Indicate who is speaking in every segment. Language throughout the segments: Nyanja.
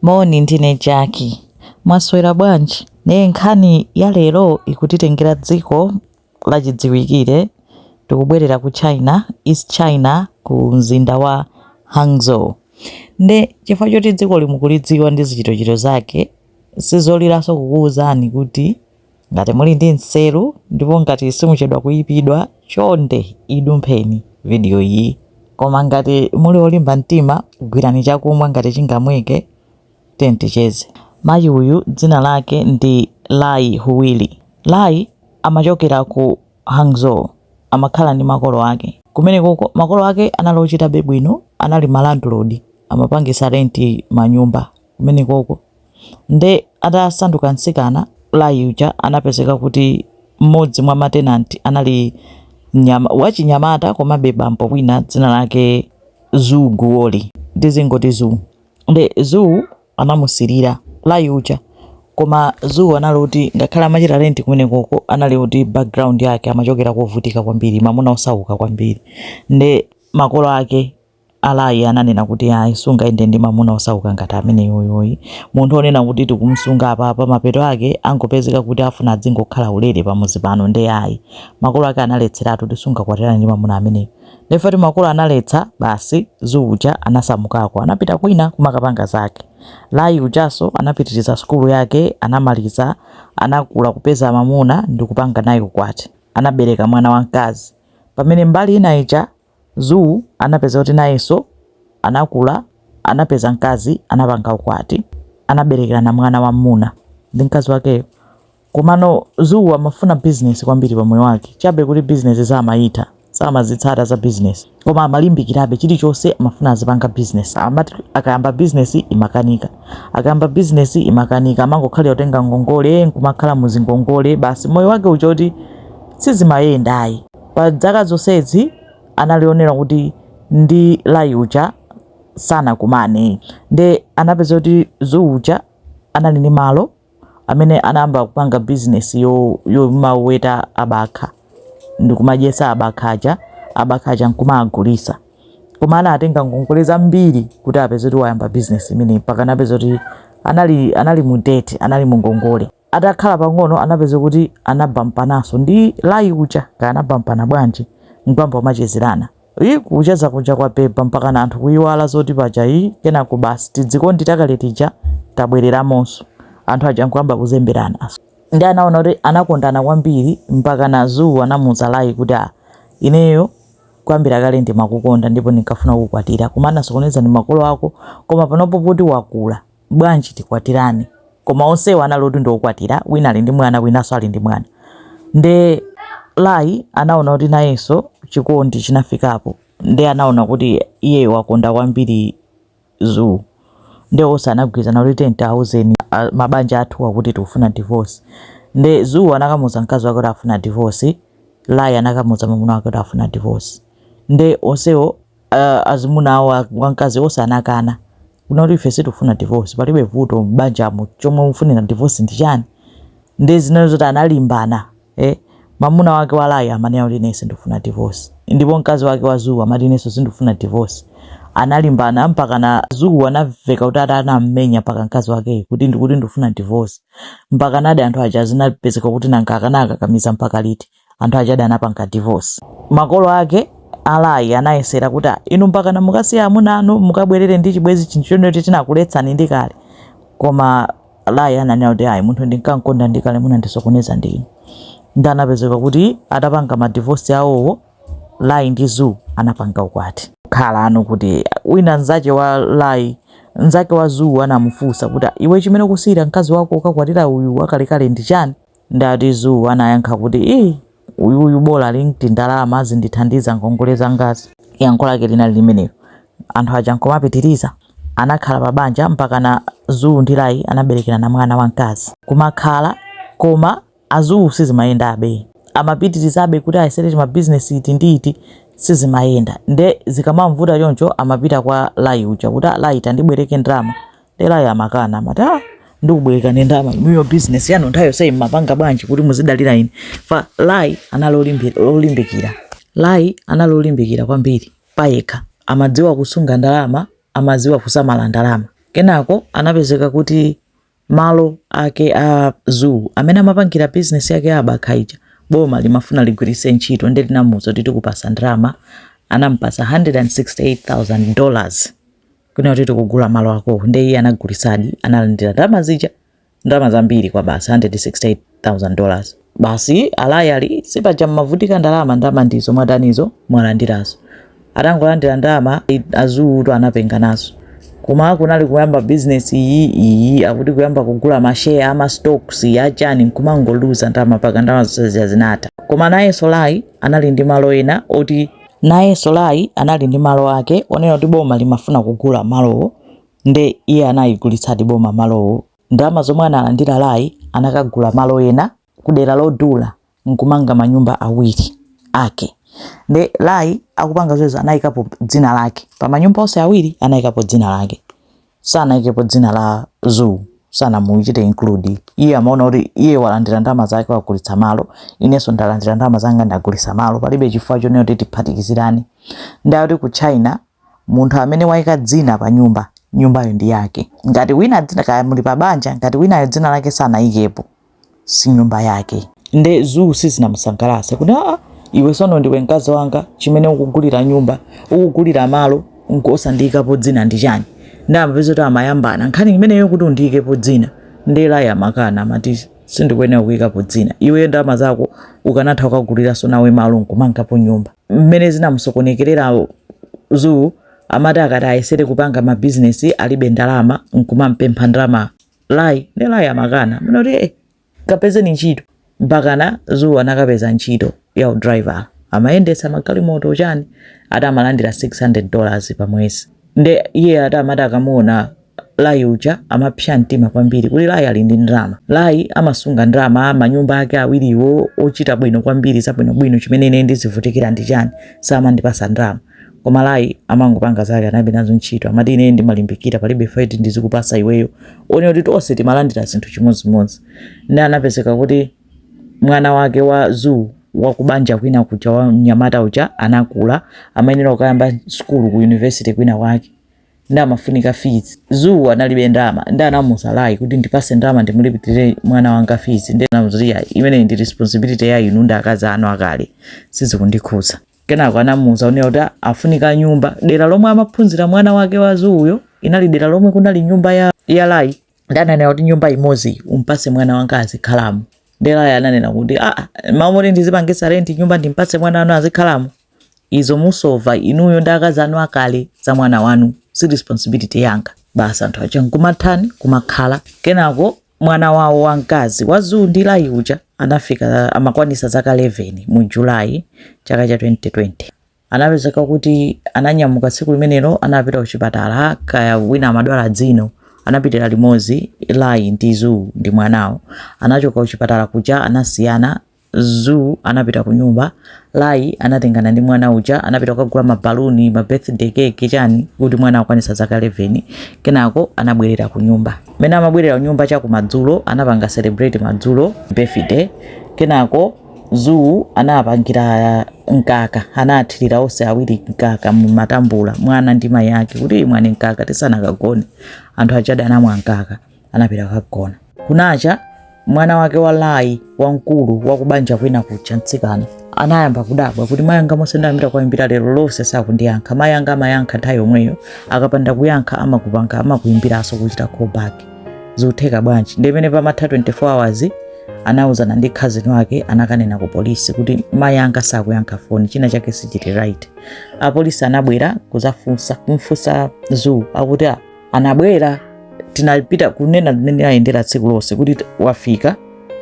Speaker 1: Moni ndine Jaki. Mwaswera bwanji? Ndiye nkhani ya lero ikutitengera dziko lachidziwikire. Tikubwerera ku China, East China ku mzinda wa Hangzhou. Nde chifukwa choti dzikoli mukulidziwa ndi zichitochito zake, sizoliranso kukuwuzani kuti Ngati muli ndi nseru ndipo ngati simuchedwa kuipidwa, chonde idumpheni video iyi. Koma ngati muli olimba mtima, gwirani chakumwa ngati chingamweke. Tiyeni ticheze. Mayi uyu dzina lake ndi Lai Huili. Lai amachokera ku Hangzhou. Amakhala ndi makolo ake. Kumenekoko, makolo ake anali ochitabe bwino, anali ma landlord, amapangisa rent manyumba. kumenekoko nde atasanduka mtsikana Lai uja anapezeka kuti mmodzi mwa ma tenant anali wachinyamata komabe bambo wina dzina lake Zhu Guoli tizingoti Zhu nde Zhu anamusilira Lai uja koma Zhu anali kuti ngakhale amachita rent kumenekoko anali kuti background yake amachokera kovutika kwambiri mamuna osauka kwambiri nde makolo ake A Lai ananena kuti ayi sungayende ndi mamuna osauka ngati ameneyoyoyi. Munthu onena kuti tikumusunga apapa mapeto ake angopezeka kuti afuna adzingokhala ulere pamuzi pano nde ayi. Makolo ake analetseratu kuti sungakwatirane ndi mamuna ameneyo. Nde poti makolo analetsa basi Zhu uja anasamukako anapita kwina kumakapanga zake. Lai ujaso anapitiriza sukulu yake anamaliza anakula kupeza mamuna ndikupanga naye ukwati. Anabereka mwana wamkazi. Pamene mbali ina ija. Zhu anapeza kuti nayenso anakula, anapeza mkazi, anapanga ukwati, anaberekerana mwana wam'muna ndi mkazi wakeyo. Komano Zhu amafuna bizinesi kwambiri pa moyo wake, chabe kuti bizinesi samayitha, samazitsata za bizinesi. Koma amalimbikirabe, chilichonse amafuna azipanga bizinesi. Amati akayamba bizinesi imakanika, akayamba bizinesi imakanika, amangokhalira kutenga ngongole, nkumakhala mu zingongole, basi moyo wake uchoti sizimayenda ayi. Pa dzaka zonsezi anali onena kuti ndi Lai uja sanakumane nde anapeza kuti Zhu uja anali ndi malo amene anayamba kupanga business yomaweta abakha ndikumadyesa abakha aja abakha aja nkumagulisa koma anatenga ngongole zambiri kuti apeze kuti wayamba business imene mpaka anapeza kuti anali anali mu debt anali mu ngongole Atakhala pang'ono anapeza kuti anabampananso ndi Lai uja. Kaya anabampana bwanji? Nkuyamba kumachezerana. Iih kucheza kuja kwabeba mpakana anthu kuiwala zoti paja ii kenako basi tidzikondi takale tija tabwereramonso. Anthu aja nkuyamba kuzemberana. Ndiye anaona kuti anakondana kwambiri mpakana Zhu anamuuza Lai kuti, Ah, ineyo kuyambira kale ndimakukonda ndipo ndinkafuna kukukwatira koma anasokoneza ndi makolo ako koma panopo poti wakula, bwanji tikwatirane koma onsewo anali oti ndiokwatira wina ali ndi mwana winanso ali ndi mwana nde lai anaona kuti nayenso chikondi chinafikapo nde anaona kuti iye wakonda kwambiri zuu nde onse anagwirizana kuti tiyeni tiwauzeni a- mabanja athu akuti tikufuna divorce nde zuu anakamuza mkazi wake kuti afuna divorce lai anakamuza mamuna wake kuti afuna divorce nde onsewo uh, azimuna awo wamkazi onse anakana kunoti ife sitifuna divorce palibe vuto m'banjamo chomwe mufunira divorce ndi chani nde zinali zoti analimbana eh? mamuna wake wa lai amanena kuti ine sindifuna divorce ndipo mkazi wake wa zuu amati inenso sindifuna divorce analimbana mpakana zuu anamveka kuti ata anammenya mpaka mkazi wakeyi kuti ndikuti ndifuna divorce mpakanadi anthu aja zinapezeka kuti nanga akanakakamiza mpaka liti anthu aja ade anapanga divorce. Makolo ake a Lai anayesera kuti ah, inu mpakana mukasiya amuna anu mukabwerere ndi chibwezi chinthu chonoti tinakuletsani ndi kale. Koma a Lai ananena kuti ayi munthu ndinkankonda ndi kale munandisokoneza ndi inu. Nde anapezeka kuti atapanga ma divorce awowo Lai ndi Zuu anapanga ukwati. Khala anu kuti wina nzache wa Lai nzake wa Zuu anamufunsa kuti ah, iwe chimene ukusiyira mkazi wako ukakwatira uyu wakalekale ndi chani? Nde ati Zuu anayankha kuti, Iii uyuyu bola ali ndi tindalama azindithandiza ngongole zangazi. Yankho lake linali limenelo anthu aja nkumapitiriza. Anakhala pa banja mpakana Zuu ndi Lai anaberekerana mwana wamkazi. Kumakhala koma a Zuu sizimayendabe. Amapitirizabe kuti ayesere timabizinesi iti ndi iti sizimayenda. Nde zikamamvuta choncho amapita kwa Lai uja kuti, Lai tandibwereke ndalama Nde Lai amakana amati ah, ndikubwerekeni ndama inuyo business yanu nthawi yonse mmapanga bwanji kuti muzidalira ine ifa lai anali olimbikira lai anali olimbikira kwambiri payekha amadziwa kusunga ndalama amadziwa kusamala ndalama kenako anapezeka kuti malo ake a zuu amene amapangira bizinesi yake ya abakha ija boma limafuna ligwiritse ntchito nde linamuza kuti tikupasa ndalama anampasa 168,000 dollars kunena kuti tikugula malo akowo nde iye anagulisadi analandira ndalama zija ndalama zambiri kwabasi 168000 dollars basi a lai ali sipaja mmavutika ndalama ndalama ndizo mwatanizo mwalandirazo atangolandira ndalama a zuutu anapenga nazo koma kunali kuyamba business iyi iyi akuti kuyamba kugula mashare ama stocks ya chani nkumangoluza ndalama mpaka ndalama zonse zinatha koma nayenso lai anali ndi malo ena oti Nayenso Lai anali ndi malo ake onena kuti boma limafuna kugula malowo nde iye analigulitsadi boma malowo. Ndalama zomwe analandira Lai anakagula malo ena kudera lodula nkumanga manyumba awiri ake. Nde Lai akupanga zimenezo anayikapo dzina lake, pamanyumba onse awiri anayikapo dzina lake. sanaikepo dzina la zoo sanamuchita include iye amaona kuti iye walandira ndalama zake wagulitsa malo inenso ndalandira ndalama zanga ndagulitsa malo palibe chifukwa chonena kuti tiphatikizirane nde ati ku china munthu amene waika dzina pa nyumba nyumbayo ndi yake ngati wina dzina kaya muli pa banja ngati winayo dzina lake sanaikepo si nyumba yake nde zuu sizinamusangalatse kuti aa iwe sono ndiwe mkazi wanga chimene ukugulira nyumba ukugulira malo nkuosandiikapo dzina ndi chani nde amapezeka kuti amayambana nkhani imeneyo kuti undiikepo dzina nde lai amakana amati sindikuyenera kuikapo dzina iweyo ndalama zako ukanatha kukagulanso nawe malo nkumangapo nyumba mmene zinamusokonekerera zuu amati akati ayesere kupanga mabizinesi alibe ndalama nkumampempha ndalama lai nde lai amakana kunena kuti eh, kapezeni ntchito mpakana zuu anakapeza ntchito ya udriver amayendetsa magalimoto chani ati amalandira 600 dollars pa mwezi nde iye ati amati akamuona lai uja amapsa mtima kwambiri kuti lai ali ndi ndalama lai amasunga ndalama manyumba ake awiriwo ochita bwino kwambiri zabwinobwino chimene ine ndizivutikira ndi chani samandipasa ndalama koma lai amangopanga zake analibe nazo ntchito amati ine ndimalimbikira palibe zoti ndizikupasa iweyo wonena kuti tonse timalandira zinthu chimodzimodzi nde anapezeka kuti mwana wake wa zuu wakubanja kwina kuja wa mnyamata uja anakula amayenera kukayamba sukulu ku university kwina kwake nde amafunika fees zuu analibe ndalama nde anamuuza lai kuti ndipase ndalama ndimulipirire mwana wanga fees nde anamuuza imeneyo ndi responsibility ya inu ndi akazi anu akale sizikundikhuza kenako anamuuza onena kuti akufunika nyumba dera lomwe amaphunzira mwana wake wa zuuyo linali dera lomwe kunali nyumba ya, ya lai nde ananena kuti nyumba imodzi umpase mwana wanga azikhalamo nde lai ananena kuti aa ah, ah, mawu moti ndizipangisa renti nyumba ndimpase mwana wanu azikhalamo izo musova inuyo ndi akazi anu akale za mwana wanu si responsibility yanga basi anthu aja nkumatani kumakhala kenako mwana wawo wamkazi wa Zuu ndi Lai uja anafika amakwanisa zaka 11 mu July chaka cha 2020 anapezeka kuti ananyamuka tsiku limenelo anapita kuchipatala kaya wina amadwala dzino anapitira limodzi Lai ndi Zuu ndi mwanawo atachoka kuchipatala kuja anasiyana Zuu anapita kunyumba. Lai anatengana ndi mwana uja anapita kukagula mabaluni ma birthday cake chani kuti mwana akwanisa zaka 11 kenako anabwerera kunyumba. Mmene amabwerera kunyumba cha kumadzulo anapanga celebrate madzulo birthday kenako Zuu anapangira mkaka anathirira onse awiri mkaka mumatambula mwana ndi mayi ake kuti imwani mkaka tisanakagone anthu ajadi anamwa mkaka. anapita kukagona. Kunacha mwana wake wa Lai wamkulu wa kubanja kwina kucha mtsikana anayamba kudabwa kuti mayi anga monse ndayambira kuwayimbira lero lonse sakundiyankha mayi anga amayankha nthawi yomweyo akapanda kuyankha amakupanga amakuyimbiranso kuchita callback zikutheka bwanji nde mmene pamatha 24 hours anawuzana ndi khazini wake anakanena ku polisi kuti mayi anga sakuyankha foni china chake sichili right apolisi anabwera kuzafunsa kumfunsa zuu akuti ah, anabwera tinapita kunena mmene ayendera tsiku lonse kuti wafika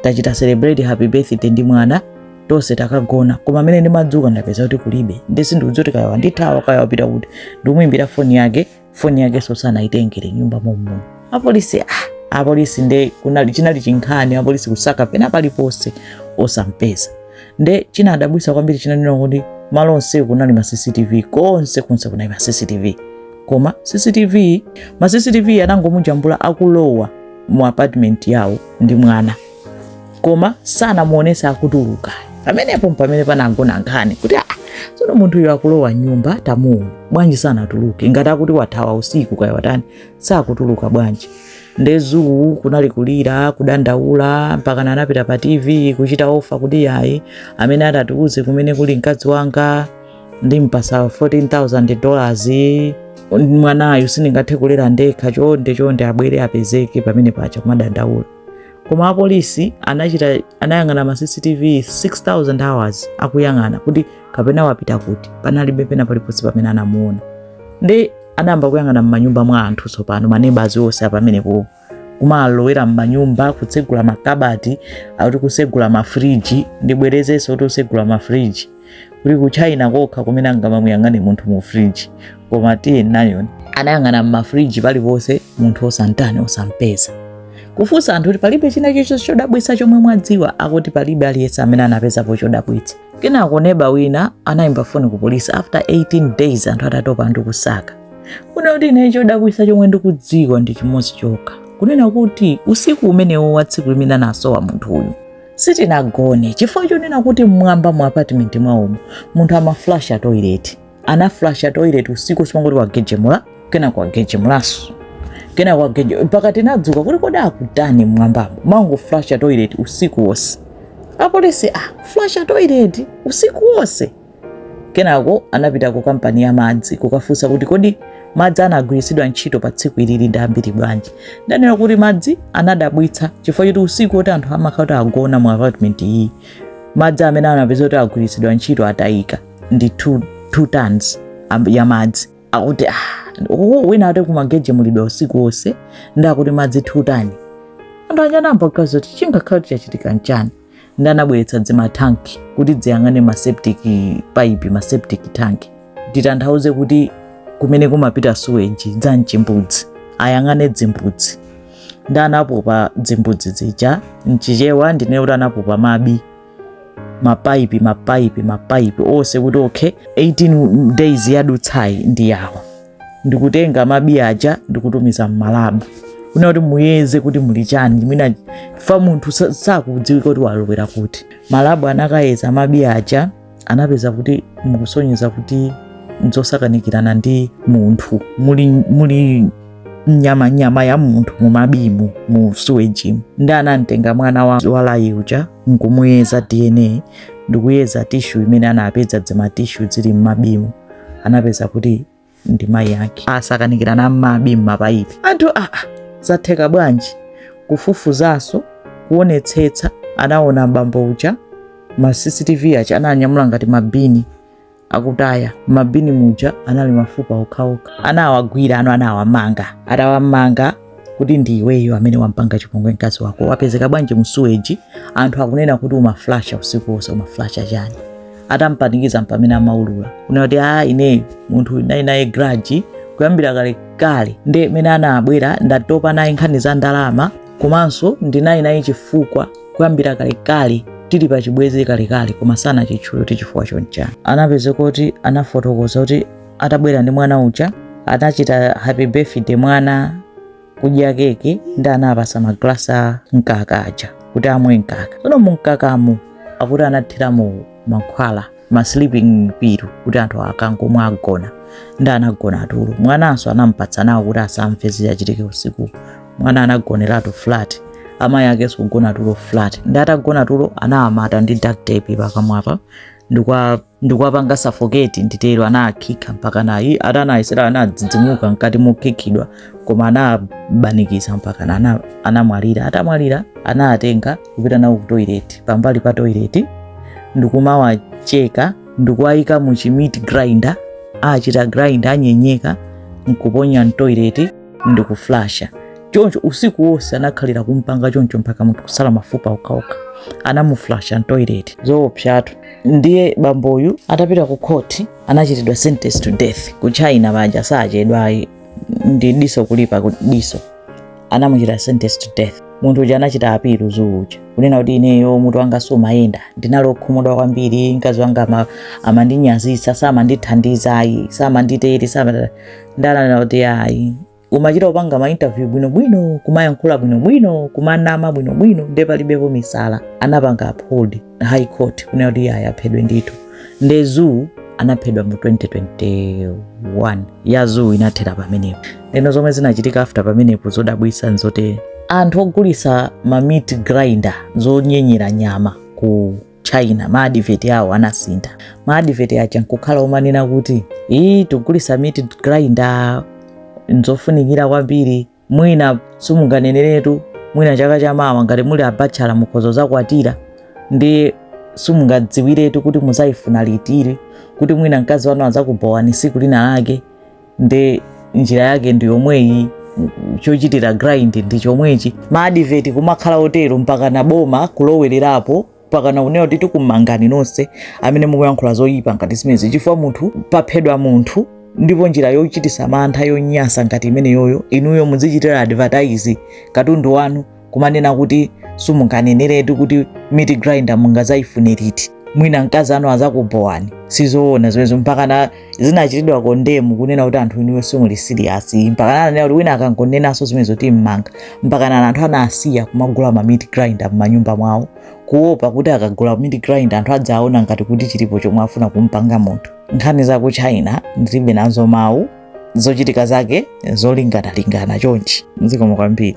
Speaker 1: tachita celebrate happy birthday ndi mwana tonse takagona koma amene ndimadzuka ndapeza kuti kulibe ndi sindikudziwa kuti kaya wandithawa kaya wapita kuti ndikumuimbira foni yake foni yake sonso anayisiya m'nyumba mommuno apolisi ah, apolisi nde kunali chinali chinkhani apolisi kusaka pena paliponse osampeza nde chinadabwisa kwambiri china nʼnena kuti malo onse kunali ma cctv konse konse kunali ma cctv koma cctv ma cctv anangomujambula akulowa mu apartment yawo ndi mwana koma sanamuonesa akutuluka pamenepo mpamene panagona nkhani kuti ah, tsono munthuyo akulowa mnyumba tamuona bwanji sanatuluke ngati akuti wathawa usiku kaya watani sakutuluka bwanji nde zuu kunali kulira kudandaula mpakana anapita pa tv kuchita ofa kuti yayi amene atatiuze kumene kuli mkazi wanga ndimpasa 14000 dollars mwanayu sindingathe kulera ndekha chonde chonde abwere apezeke pamenepa akuchita kumadandaula koma apolisi anachita anayang'ana ma cctv 6000 hours akuyang'ana kuti kapena wapita kuti panalibe pena paliponse pamene anamuona ndi anayamba kuyang'ana m'manyumba mwa anthu tsopano manebazi onse apamenepo kumalowera m'manyumba kutsegula makabati akuti kusegula mafriji ndibwerezenso kutsegula mafriji kuti ku China kokha kumene angamamuyang'ane munthu mu friji koma tiye nayoni anayang'ana m'mafriji paliponse munthu osantani osampeza kufunsa anthu kuti palibe china chilichonse chodabwitsa chomwe mwadziwa akuti palibe aliyense amene anapezapo chodabwitsa kenako neba wina anayimba foni ku polisi after 18 days anthu atatopa ndi kusaka kunena kuti ine chodabwisa chomwe ndikudziwa ndi chimodzi chokha kunena kuti usiku umenewo wa tsiku limene anasowa munthu uyu sitinagone chifukwa chonena kuti mmwamba mu apatimenti mwawomo munthu amaflasha toilet anaflasha toilet usiku wonse imangoti wagejemula kena kwagejemulaso kena kwageje mpaka tinadzuka kuti kodi akutani mmwambamo mangoflasha toilet usiku wonse apolisi ah flasha toilet usiku wonse Kenako anapita ku kampani ya madzi kukafunsa kuti kodi madzi anagwiritsidwa ntchito pa tsiku ilili ndi ambiri bwanji. Ndanena kuti madzi anadabwitsa chifukwa choti usiku woti anthu amakhala kuti agona mu apartment iyi madzi amene anapeza kuti agwiritsidwa ntchito atayika ndi 2 tons ya madzi akuti ah, oh, ena ati kumagejemulidwa usiku wonse ndi akuti madzi 2 tons anthu anayamba kuganiza kuti chingakhala kuti chachitika nchani ndi anabweretsa dzimatanki kuti dziyang'ane ma septic pipe ma septic tank nditanthauze kuti kumene kumapita suweji dza mchimbudzi ayang'ane dzimbudzi ndi anapopa dzimbudzi zija mchichewa ndinene kuti anapopa mabi mapaipi mapaipi mapaipi onse kuti okay 18 days yadutsayi ndi yawo ndikutenga mabi aja ndikutumiza mmalabu kunena kuti muyeze kuti muli chani mwina fa munthu sa- sakudziwika kuti walowera kuti malabu anakayeza mabi aja anapeza kuti mukusonyeza kuti nzosakanikirana ndi munthu muli, muli nyama nyama ya munthu mumabimu mu suwejimu ndi anamtenga mwana wa, wa layi uja nkumuyeza dna ndikuyeza tishu imene anapeza dzimatishu zili mmabimu anapeza kuti ndi mayi ake asakanikirana m'mabi m'mapaipi anthu aa ah, ah, zatheka bwanji kufufuzanso kuonetsetsa anaona mbambo uja ma cctv aja ananyamula ngati mabini akutaya mabini muja anali mafupa okhaokha anawagwira uyu anawamanga atawamanga kuti ndi iweyo amene wampanga chipongwe mkazi wako wapezeka bwanji msuweji anthu akunena kuti umaflasha usiku wonse umaflasha chani atampanikiza mpamene amaulula kunena kuti a ineyo munthu naye naye graji kuyambira kale kale nde mene anabwera ndinatopa naye nkhani za ndalama komanso ndinali naye chifukwa kuyambira kale kale tili pa chibwezi kale kale koma sanachitchule kuti chifukwa chonchani anapezeka kuti anafotokoza kuti atabwera ndi mwana uja anachita happy birthday mwana kudya keke ndi anawapatsa maglasi a mkaka aja kuti amwe mkaka tsono mumkakamo akuti anathiramo mankhwala ma sleeping pill kuti anthu akangomwa agona ndi anagona tulo mwananso anampatsa nawo kuti asamve zichitike usiku mwana anagoneratu flat amayi akenso kugona tulo flat ndi atagona tulo anawamata ndi duct tape pakamwapa ndikwa ndikuwapanga safoketi nditero anawakhika mpaka mayi ati anayesera anadzidzimuka mkati mokhikidwa koma anabanikiza mpaka ana- anamwalira atamwalira anatenga kupita nawo ku toilet pambali pa toilet ndikumawacheka ndikuwayika mu chi meat grinder akuchita grind anyenyeka nkuponya mtoileti ndikuflasha choncho usiku wonse anakhalira kumpanga choncho mpaka munthu kusala mafupa okhaokha anamuflasha mtoileti zoopsatu ndiye bamboyu atapita ku khoti anachitidwa sentence to death ku china paja sachedwa ayi ndi diso kulipa ku diso anamuchita sentence to death munthu uja anachita apilu zoo uja kunena kuti ineyo mutu wanga sumayenda ndinali okhumudwa kwambiri mkazi wanga ama- amandinyazitsa samandithandiza ayi samanditere sama ndanena kuti ayi umachita kupanga ma interview bwino bwino kumayankhula bwino bwino kumanama bwino bwino nde palibepo misala anapanga uphold high court kunena kuti ayi aphedwe ndithu nde zoo anaphedwa mu 2021 ya zoo inathera pamenepo eno zomwe zinachitika after pamenepo zodabwisa nzote anthu ogulisa ma meat grinder zonyenyera nyama ku china ma advert awo anasintha ma advert aja nkukhala omanena kuti tikugulisa meat grinder nzofunikira kwambiri mwina simunganeneretu mwina chaka chamawa ngati muli abatchala mukhoza zakwatira nde simungadziwiretu kuti muzayifuna liti kuti mwina mkazi wanu azakubhowani siku lina lake nde njira yake ndi yomweyi chochitira grind ndi chomwechi ma advert kumakhala otero mpakana boma kulowererapo mpakana kunena kuti tikumangani nonse amene mukuyankhula zoyipa ngati zimezi chifukwa munthu paphedwa munthu ndipo njira yochitisa mantha yonyasa ngati imeneyoyo inuyo muzichitira advertise katundu wanu kumanena kuti simunganeneretu kuti meat grinder mungazayifune liti mwina mkazi wanu azakubhowani sizoona zimenezo mpakana zinachitidwa kondemu kunena kuti anthu inuyo simuli siriyasi mpakana ananena kuti wina akangonenanso zimenezo timmanga mpakana anthu anasiya kumagula ma meat grinder m'manyumba mwawo kuopa kuti akagula meat grinder anthu adzaona ngati kuti chilipo chomwe afuna kumpanga munthu nkhani za ku china ndilibe nazo mawu zochitika zake zolinganalingana chonchi zikomo kwambiri